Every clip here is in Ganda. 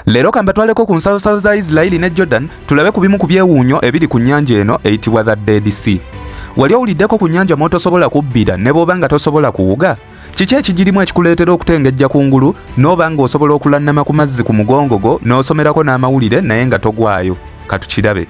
Leero kambatwaleko ku nsalosalo za Isirairi ne Jordan tulabe ku bimu ku byewuunyo ebiri ku nnyanja eno eyitibwa the Dead Sea. Wali owuliddeko ku nnyanja mw'otosobola kubbira ne bw'oba nga tosobola kuwuga? Kiki ekigirimu ekikuleetera okutengejja ku ngulu n'oba ng'osobola okulannama ku mazzi ku mugongo gwo n'osomerako n'amawulire naye nga togwayo? Katukirabe.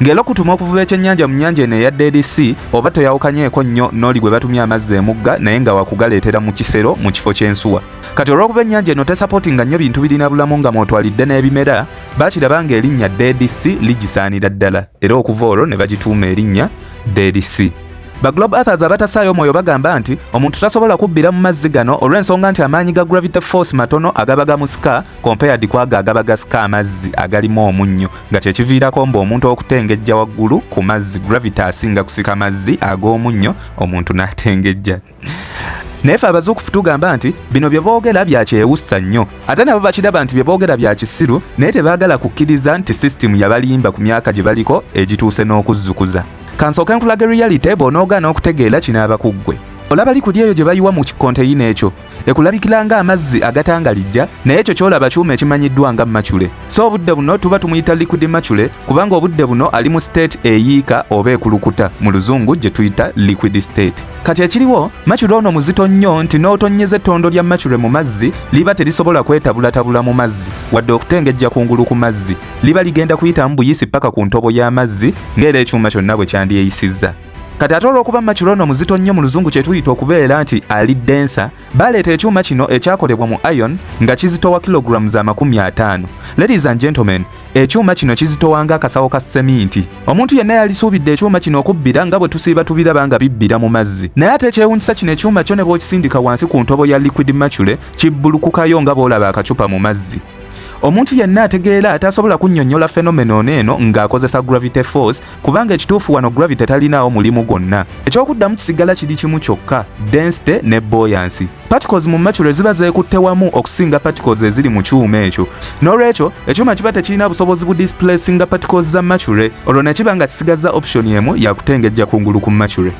Ng'era okutuma okuvuba ekyennyanja mu nnyanja eno eya Dead Sea oba toyawukanyeeko nnyo n'oli gwe batumya amazzi emugga naye nga wakugaleetera mu kisero mu kifo ky'ensuwa. Kati olw'okuba ennyanja eno tesapotinga nnyo bintu birina bulamu nga mwotwalidde n'ebimera, bakiraba ng'erinnya Dead Sea ligisaanira ddala era okuva olwo ne bagituuma erinnya Dead Sea. Ba Globe Earthers abatasaayo omwoyo bagamba nti omuntu tasobola kubbira mu mazzi gano olw'ensonga nti amaanyi ga gravity force matono agaba gamusika compared kwago agaba gasika amazzi agalimu omunnyo nga kyekiviirako mbu omuntu okutengejja waggulu ku mazzi gravity asinga kusika mazzi ag'omunnyo omuntu n'atengejja naye fe abazuukufu tugamba nti bino bye boogera bya kyewussa nnyo ate nabo bakiraba nti bye boogera bya kisiru naye tebaagala kukkiriza nti sisitimu yabalimba ku myaka gye baliko egituuse n'okuzzukuza kansooke nkulaga reality bw'onoogaana okutegeera kinaaba ku ggwe olaba likuli eyo gye bayiwa mu kikonteyina ekyo ekulabikira nga amazzi agatangalijja naye ekyo kyolaba kyuma ekimanyiddwa nga macule so obudde buno tuba tumuyita liquid macule kubanga obudde buno ali mu state eyiika oba ekulukuta mu luzungu gye tuyita liquid state kati ekiriwo macule ono muzito nnyo nti n'otonyeza ettondo lya macule mu mazzi liba terisobola kwetabulatabula mu mazzi wadde okutengejja kungulu ku mazzi liba ligenda kuyitamu buyisi paka ku ntobo y'amazzi ng'era ekyuma kyonna bwe kyandyeyisizza kati ate olw'okuba makiro ono muzito nnyo mu luzungu kye tuyita okubeera nti ali densa baleeta ekyuma kino ekyakolebwa mu iron nga kizitowa kilogulaamu za makumi ataano ladies and gentlemen ekyuma kino kizitowa nga akasawo ka seminti omuntu yenna yalisuubidde ekyuma kino okubbira nga bwe tusiiba tubiraba nga bibbira mu mazzi naye ate ekyewunyisa kino ekyuma kyo ne bw'okisindika wansi ku ntobo ya liquid macule kibbulukukayo nga bw'olaba akacupa mu mazzi omuntu yenna ategeera atasobola kunnyonnyola fenomeno ono eno ng'akozesa gravity force kubanga ekituufu wano gravity talinaawo mulimu gwonna ekyokuddamu kisigala kiri kimu kyokka density ne boyansi particles mu macule ziba zeekutte wamu okusinga particles eziri mu kyuma ekyo n'olwekyo ekyuma kiba tekirina busobozi bu displacinga particles za macule olwo ne kiba nga kisigazza option emu yakutengejja kungulu ku macule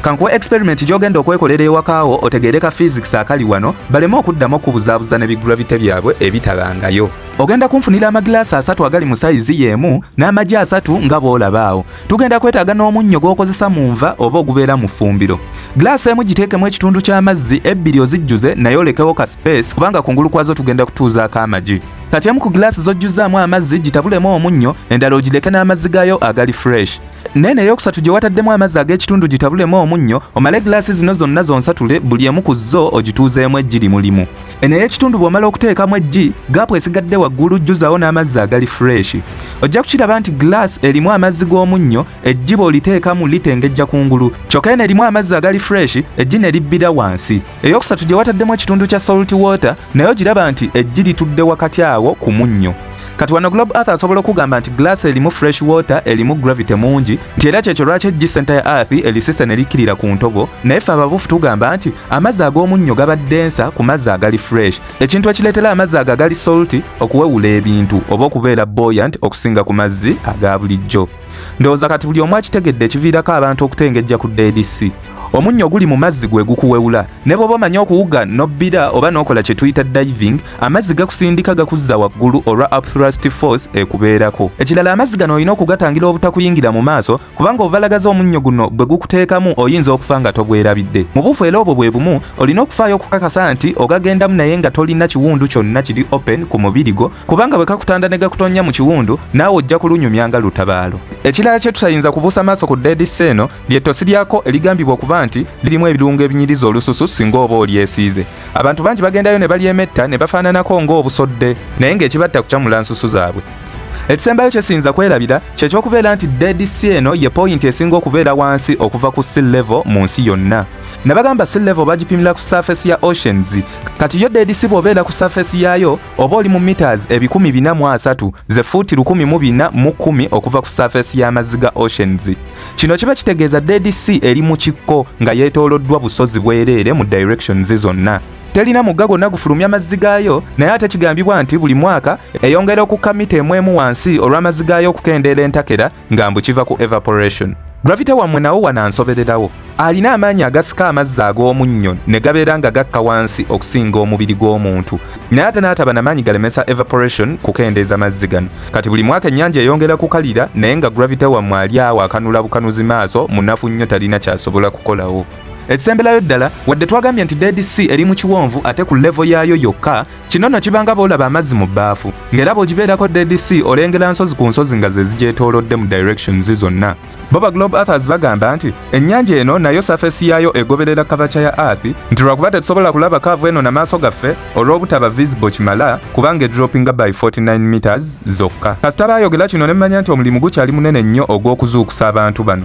kankuwa experiment gy'ogenda okwekolera ewakaawo otegeere ka physics akali wano baleme okuddamu okubuzaabuza ne bigravity byabwe ebitabangayo Ogenda kunfunira amagilaasi asatu agali mu sayizi y'emu n'amagi asatu nga bw'olaba awo. Tugenda kwetaaga n'omunnyo gw'okozesa mu nva oba ogubeera mu ffumbiro. Gilaasi emu giteekemu ekitundu ky'amazzi, ebbiri ozijjuze naye olekewo ka sipeesi kubanga kungulu kwazo tugenda kutuuzaako amagi. Kati emu ku gilaasi z'ojjuzzaamu amazzi gitabulemu omunnyo, endala ogireke n'amazzi gaayo agali fureshi. Nene eyokusatu gye wataddemu amazzi ag'ekitundu gitabulemu omunnyo omale gilaasi zino zonna zonsatule buli emu ku zo ogituuzeemu egiri mulimu. Eno ey'ekitundu bw'omala okuteekamu eggi, gaapu esigadde waggulu jjuzawo n'amazzi agali fureeshi. Ojja kukiraba nti giraasi erimu amazzi g'omunnyo, eggi bw'oliteekamu litengejja ku ngulu, kyokka eno erimu amazzi agali fureeshi, eggi ne libbira wansi. Eyookusatu gye wataddemu ekitundu kya salt water, naye ogiraba nti eggi litudde wakati awo ku munnyo. Kati wano Globe Earth asobola okugamba nti giraasi erimu fresh water, erimu gravity mungi, nti era kyekyo lwaki eggi senta ya Earth elisise ne likkirira ku ntobo, naye ffe ababuufu tugamba nti Amazzi ag'omunnyo gaba densa ku mazzi agali fresh, ekintu ekileetera amazzi ago agali salty okuwewula ebintu oba okubeera buoyant okusinga ku mazzi aga bulijjo. Ndowooza kati buli omu akitegedde ekiviirako abantu okutengejja ku Dead Sea. Omunnyo oguli mu mazzi gwe gukuwewula. Ne bw'oba omanyi okuwuga n'obbira oba n'okola kye tuyita diving, amazzi gakusindika gakuzza waggulu olwa upthrust force ekubeerako. Ekirala amazzi gano olina okugatangira obutakuyingira mu maaso kubanga obubalagaza omunnyo guno bwe gukuteekamu oyinza okufa nga tobwerabidde mu bufu era obwo bwe bumu olina okufaayo okukakasa nti ogagendamu naye nga tolina kiwundu kyonna kiri open ku mubiri gwo kubanga bwe kakutanda ne gakutonnya mu kiwundu naawe ojja kulunyumya nga lutabaalo ekirala kye tutayinza kubuusa maaso ku deedisi eno lyettosi lyako erigambibwa okuba nti lirimu ebirungo ebinyiriza olususu singa oba olyesiize abantu bangi bagendayo ne balyemetta ne bafaananako ng'obusodde naye ng'ekibatta kucamula nsusu zaabwe ekisembayo kyesiyinza kwerabira kyekyokubeera nti dead sea eno ye poyinti esinga okubeera wansi okuva ku sea level mu nsi yonna nabagamba sea level bagipimira ku surface ya oceans kati yo dead sea bwobeera ku surface yaayo oba oli mu meters ebikumi bina mu asatu ze fuuti lukumi mu bina mu kumi okuva ku surface y'amazzi ga oceans kino kiba kitegeeza dead sea eri mu kikko nga yeetooloddwa busozi bwereere mu directions zonna terina mugga gwonna gufulumya mazzi gaayo naye ate kigambibwa nti buli mwaka eyongera okukka mita emu emu wansi olw'amazzi gaayo okukendeera entakera nga mbu kiva ku evaporation gravita wammwe nawo wanansobererawo alina amaanyi agasika amazzi ag'omunnyo ne gabeera nga gakka wansi okusinga omubiri gw'omuntu naye ate n'ataba na maanyi galemesa evaporation kukendeeza mazzi gano kati buli mwaka ennyanja eyongera kukalira naye nga gravita wammwe ali awo akanula bukanuzi maaso munafu nnyo talina kyasobola kukolawo Ekisemberayo ddala wadde twagambye nti Dead Sea eri mu kiwonvu ate ku levo yaayo yokka, kino nno kibanga boolaba amazzi mu bbaafu, ng'era bw'ogibeerako Dead Sea olengera nsozi ku nsozi nga ze zigyetoolodde mu directions zonna. Bo ba Globe Earthers bagamba nti ennyanja eno nayo surface yaayo egoberera kavaca ya Earth nti lwakuba tetusobola kulaba kaavu eno na maaso gaffe olw'obutaba visible kimala kubanga edroppinga by 49 meters zokka. Kasita baayogera kino ne mmanya nti omulimu gukyali munene nnyo ogw'okuzuukusa abantu bano.